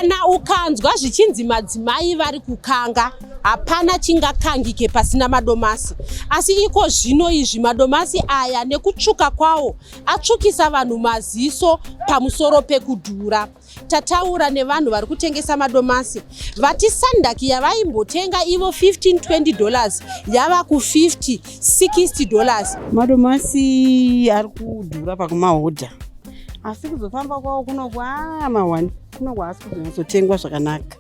kana ukanzwa zvichinzi madzimai vari kukanga hapana chingakangike pasina madomasi asi iko zvino izvi madomasi aya nekutsvuka kwawo atsvukisa vanhu maziso pamusoro pekudhura tataura nevanhu vari kutengesa madomasi vati sandaki yavaimbotenga ivo 1520 dollars yava ku 50 60 dollars madomasi ari kudhura pakumahodha asi kuzofamba kwawo kunokwama wani kunokwa asi kuzonyatsotengwa zvakanaka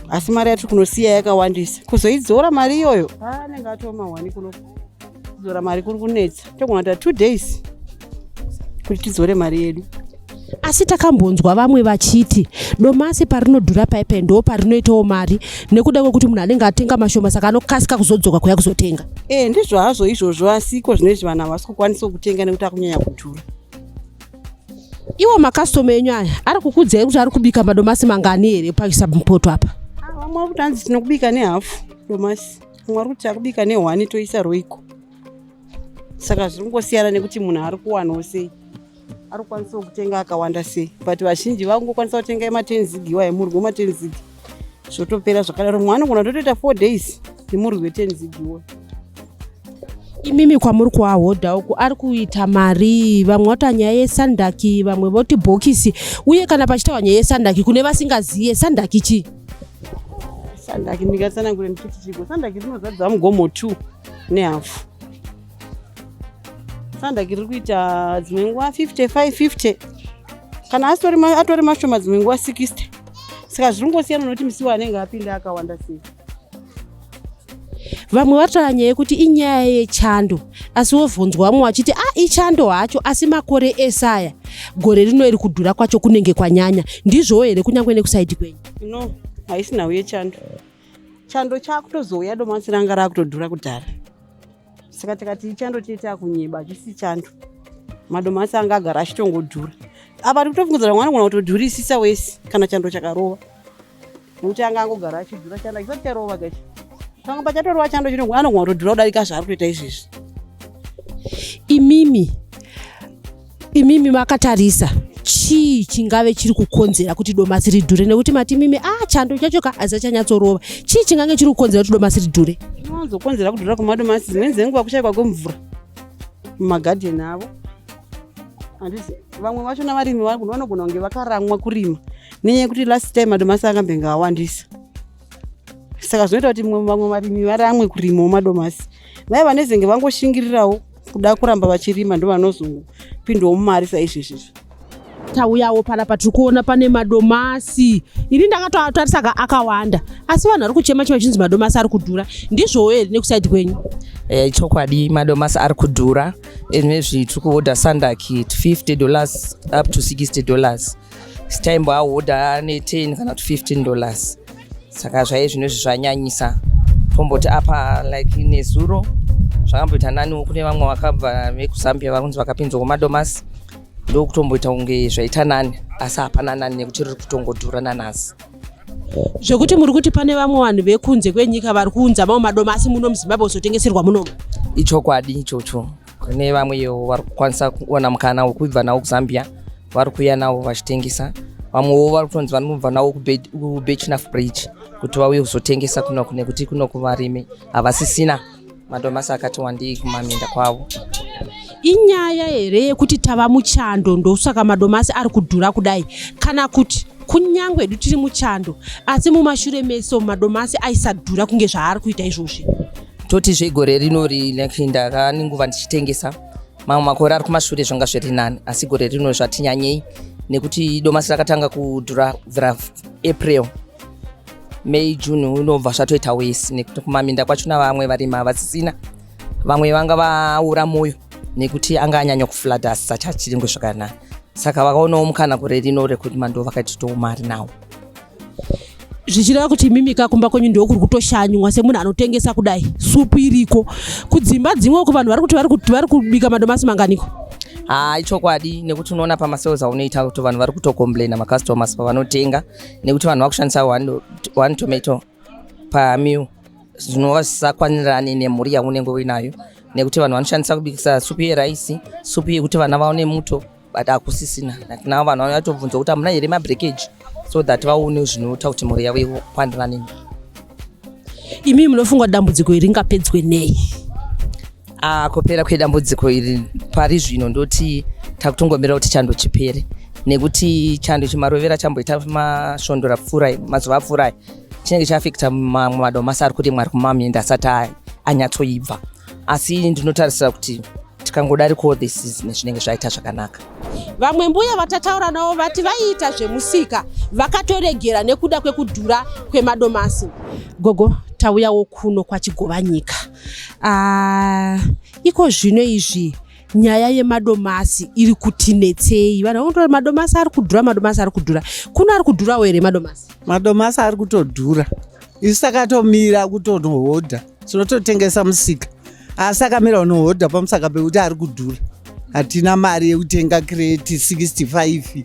asi mari yatiri kunosiya yakawandisa kuzoidzora mari iyoyo anenge atoma wani kuno kudzora mari kuri kunetsa togona ta two days kuti tidzore mari yedu asi takambonzwa vamwe vachiti domasi parinodhura paipe ndo parinoitawo mari nekuda kwekuti munhu anenge atenga mashoma saka anokasika kuzodzoka kuya kuzotenga e ndizvo hazvo izvozvo asiko zvinoizvi vanhu havasi kukwanisa kutenga nekuti akunyanya kudhura iwo makastoma enyu aya ari kukudzai kuti ari kubika madomasi mangani here paisabmupoto apa vamwe ah, vari kuti anzi tinokubika nehafu domasi vamwe vari kuti akubika nehwani toisa roiko saka zviri kungosiyana nekuti munhu ari kuwanawo sei ari kukwanisawo kutenga akawanda sei but vazhinji vakungokwanisa kutenga ematen zig iwa emurwi wematen zig zvotopera zvakadaro mumwe anogona totoita four days nemurwi weten zig iwa imimi kwamuri kuahodha uku ari kuita mari vamwe vatoa nyaya yesandaki vamwe voti bhokisi uye kana pachitawa nyaya yesandaki kune vasingazive sandaki chii sandaki ndingatsanangure ndichiti chiko sandaki rinozadza mugomo two nehafu sandaki riri kuita dzimwe nguva 55 50 kana atori mashoma dzimwe nguva 60 saka zviri kungosiyana nokuti misiwo anenge apinda akawanda sei vamwe vataura nyaya yekuti inyaya yechando asi wovhunzwa vamwe vachiti a ah, ichando hacho asi makore ese aya gore rino iri kudhura kwacho kunenge kwanyanya ndizvowo here kunyange nekusaidi kwenyu no haisina uye chando chando chakutozouya domasi ranga rakutodhura kudhara saka tikati ichando tiite akunyeba achisi chando madomasi anga agara achitongodhura apa ari kutofungidzira mwana gona kutodhurisisa wese kana chando chakarova nokuti anga angogara achidhura chando achisati charova kachi pamwe pachatorova chando chino anogona kutodhura kudarika zvaari kutoita izvezvi imimi imimi makatarisa chii chingave chiri kukonzera kuti domasi ridhure nekuti mati mimi a ah, chando chacho ka aziva chanyatsorova chii chingange chiri kukonzera kuti domasi ridhure zvinowanzokonzera kudhura kwemadomasi dzimweni dzenguva kushaikwa kwemvura mumagadheni avo handisi vamwe vacho navarimi vanogona kunge vakaramwa kurima nenyaya yekuti last time madomasi akambenge awandisa saka zvinoita kuti vamwe varimi varamwe kurima madomasi vaya vanezenge vangoshingirirawo kuda kuramba vachirima ndo vanozopindawo mumari saizvezvezvo tauyawo panapa tiri kuona pane madomasi ini ndakatoatarisa ka akawanda asi vanhu vari kuchema chema chinzi madomasi ari kudhura ndizvowo here nekusaidi kwenyu e, chokwadi madomasi ari kudhura nezvi tiri kuhodha sandaki 50 dollars up to 60 dollars staimbo ahoda ne 10 kana kuti 15 dollars saka zvaive zvino izvi zvanyanyisa tomboti apa like nezuro zvakamboita naniwo kune vamwe vakabva vekuzambia vakunzi vakapinzwa kumadomasi ndokutomboita kunge zvaita nani asi hapana nani nekuti riri kutongodhura nanhasi zvekuti muri kuti pane vamwe vanhu vekunze kwenyika vari kuunza mamwe madomasi muno muzimbabwe kuzotengeserwa munomu ichokwadi ichocho kune vamwewo vari kukwanisa kuwana mukana wekubva nawo kuzambia vari kuuya nawo vachitengesa vamwewo vari kutonzi vanobva nawo kubechnaf bridge kuti vauye kuzotengesa kunoku nekuti kunoku varimi havasisina madomasi akati wandii kumaminda kwavo inyaya here yekuti tava muchando ndosaka madomasi ari kudhura kudai kana kuti kunyange hedu tiri muchando asi mumashure meso madomasi aisadhura kunge zvaari kuita izvozvi toti zvegore rino like ndaka nenguva ndichitengesa mamwe makore ari kumashure zvanga zviri nani asi gore rino zvati nyanyei nekuti domasi rakatanga kudhura bvira april may june unobva zvatoita wesi nekuti kumaminda kwacho na vamwe varimi havasisina vamwe vanga vaura mwoyo nekuti anga anyanya kuflada asi sachi achiringwe zvakanaka saka vakaonawo mukana gore rino rekuti mandoo vakaititowo mari nawo zvichireva kuti imimika kumba kwenyu ndiwo kuri kutoshanywa semunhu anotengesa kudai supu iriko kudzimba dzimwe uko vanhu vari kuti vari kubika madomasi manganiko haa ah, ichokwadi nekuti unoona pamasales aunoita kuti vanhu vari kutocomplaina macustomers pavanotenga nekuti vanhu vakushandisa one tomato pamill zvinova zvisakwanirani nemhuri yaunenge uinayo nekuti vanhu vanoshandisa kubikisa supu yeraisi supu yekuti vana vaone muto but hakusisina like now vanhu vanouya tobvunza kuti hamuna here mabreakage so that vaone zvinoita kuti mhuri yavo ikwandirana nemi imi munofunga dambudziko iri ngapedzwe nei ah, kupera kwedambudziko iri pari zvino ndoti takutongomira kuti chando chipere nekuti chando chimarovera chamboita masvondo rapfuurai mazuva apfuurai chinenge chaafekta mamwe madomasi ari kuti mwari kumamyenda asati anyatsoibva asi ndinotarisira kuti tikangodarikawo this is nezvinenge zvaita zvakanaka vamwe mbuya vatataura navo vati vaiita zvemusika vakatoregera nekuda kwekudhura kwemadomasi gogo tauyawo kuno kwachigovanyika uh, ah, iko zvino izvi nyaya yemadomasi iri kuti netsei vanhu vangotora madomasi ari kudhura madomasi ari kudhura kuno ari kudhurawo here madomasi madomasi ari kutodhura isu takatomira kutonohodha tinototengesa musika asi akamira unohodha pamusaka pekuti ari kudhura hatina mari yekutenga kreti 65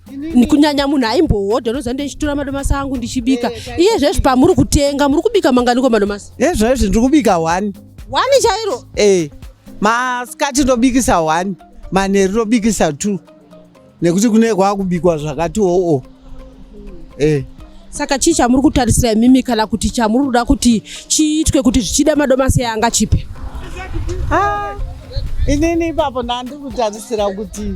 kunyanya munhu aimbohodha unoziva ndichitora madomasi angu ndichibika eh, eh, iye zvezvi pamuri kutenga muri kubika manganiko madomasi e zvezvi ndiri kubika one one chairo e masikati ndobikisa one manheru ndobikisa two nekuti kune kwakubikwa zvakati oo oh, oh. e saka chii chamuri kutarisira imimi kana kuti chamuri kuda kuti chiitwe kuti zvichida madomasi anga chipe ah, inini ipapo ndandi kutarisira kuti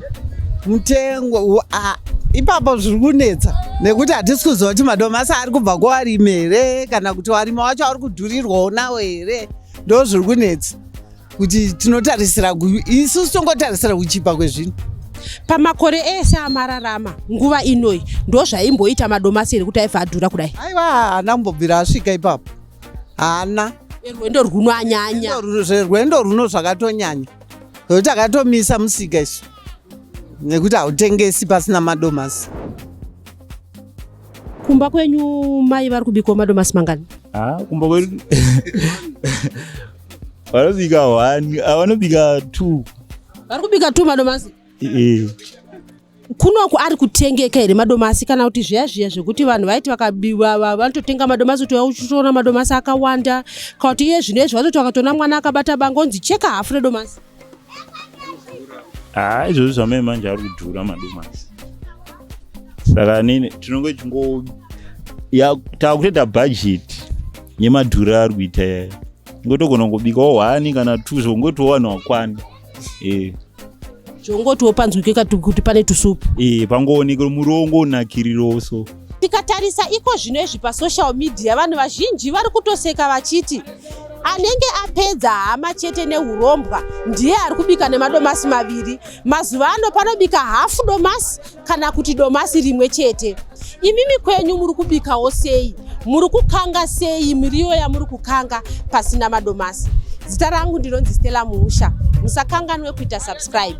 mutengo ah, ipapo zviri kunetsa nekuti hatisi kuziva kuti madomasi ari kubva kuwarimi here kana kuti warimi wacho ari kudhurirwawo nawo here ndo zviri kunetsa kuti tinotarisira isusu tongotarisira kuchipa kwezvinhu pamakore ese amararama nguva inoyi ndozvaimboita madomasi here kuti aifa adhura kudai aiwa haana mbobvira asvika ipapo haana rwendo rwuno anyanya rwendo rwuno zvakatonyanya nokuti akatomisa musika isu nekuti hautengesi pasina madomasi kumba kwenyu mai vari kubikawo madomasi mangani ah, kumba kwedu vanobika one ah, vanobika two vari kubika two madomasi Eh, kunoku ari kutengeka here madomasi kana kuti zviya zviya zvekuti vanhu vaiti vakabi- va- va- vanototenga madomasi kuti uchitoona madomasi akawanda kana kuti iye zvino izvi vatoti vakatoona mwana akabata banga onzi cheka hafu redomasi haa izvozvi zvamai manje ari kudhura madomasi saka nini tinonge tingo takutoita bhajeti yemadhura ari kuita yayo ngotogona kungobikawo hwani kana two zvongotiwo vanhu wakwana e zvongotiwo panzwike kati kuti pane tusupu e pangoonekero murongo unakiriroso Tikatarisa iko zvino izvi pasocial media vanhu vazhinji vari kutoseka vachiti anenge apedza hama chete neurombwa ndiye ari kubika nemadomasi maviri mazuva ano panobika hafu domasi kana kuti domasi rimwe chete imimi kwenyu muri kubikawo sei muri kukanga sei miriwo yamuri kukanga pasina madomasi zita rangu ndinonzi stella muusha musakanganwe kuita subscribe